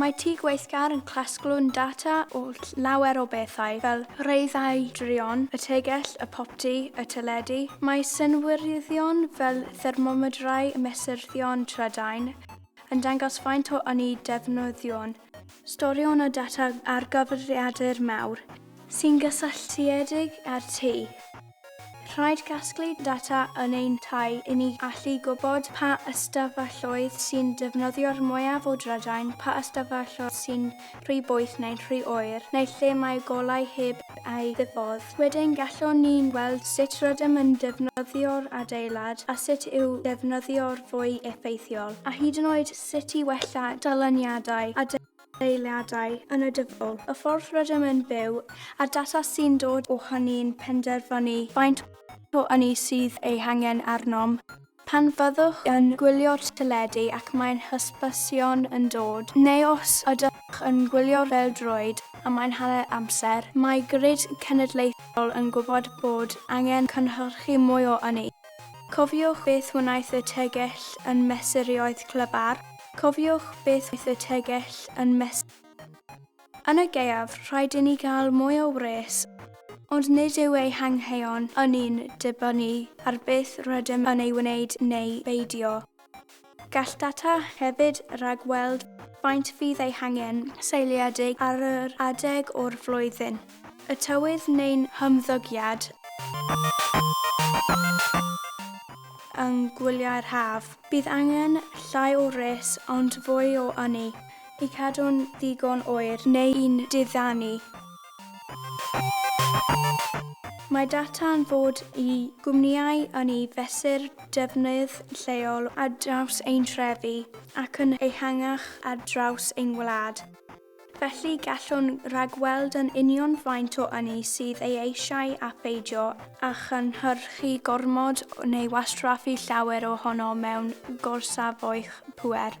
Mae Tŷ Gweithgar yn casglu'n data o lawer o bethau fel rheithau druon, y tegell, y popty, y teledu. Mae synwyryddion fel thermomedrau, mesurddion trydain, yn dangos faint o ynni defnyddion. Storïon o data ar gyfrifiadur mawr sy'n gysylltiedig â'r tŷ. Rhaid casglu data yn ein tai i ni allu gwybod pa ystafelloedd sy'n defnyddio'r mwyaf o drydain, pa ystafelloedd sy'n rhy boeth neu'n rhy oer, neu lle mae golau heb eu ddifodd. Wedyn gallwn ni weld sut rydym yn defnyddio'r adeilad a sut i'w defnyddio'r fwy effeithiol, a hyd yn oed sut i wella dyluniadau a eiliadau yn y dyfodol, y ffordd rydym yn byw, a'r data sy'n dod ohon ni'n penderfynu faint o ynni sydd ei hangen arnom. Pan fyddwch yn gwylio'r teledu ac mae'n hysbysion yn dod, neu os ydych yn gwylio'r bêl-droed a mae'n hanner amser, mae Grid Cenedlaethol yn gwybod bod angen cynhyrchu mwy o ynni. Cofiwch beth wnaeth y tegell yn mesurioedd clyfar, cofiwch beth wnaeth y tegell yn mes. Yn y gaeaf, rhaid i ni gael mwy o wres, ond nid yw ei hangheuon ynni'n dibynnu ar beth rydym yn ei wneud neu beidio. Gall data hefyd ragweld faint fydd eu hangen seiliedig ar yr adeg o'r flwyddyn, y tywydd neu'n hymddygiad yng ngwyliau'r haf. Bydd angen llai o res ond fwy o ynni i cadw'n ddigon oer neu'n diddanu. Mae data yn fod i gwmnïau yn eu fesur defnydd lleol ar draws ein trefi ac yn ehangach ar draws ein wlad. Felly, gallwn ragweld yn union faint o ynni sydd ei eisiau a pheidio â chynhyrchu gormod neu wastraffu llawer ohono mewn gorsafoedd pŵer.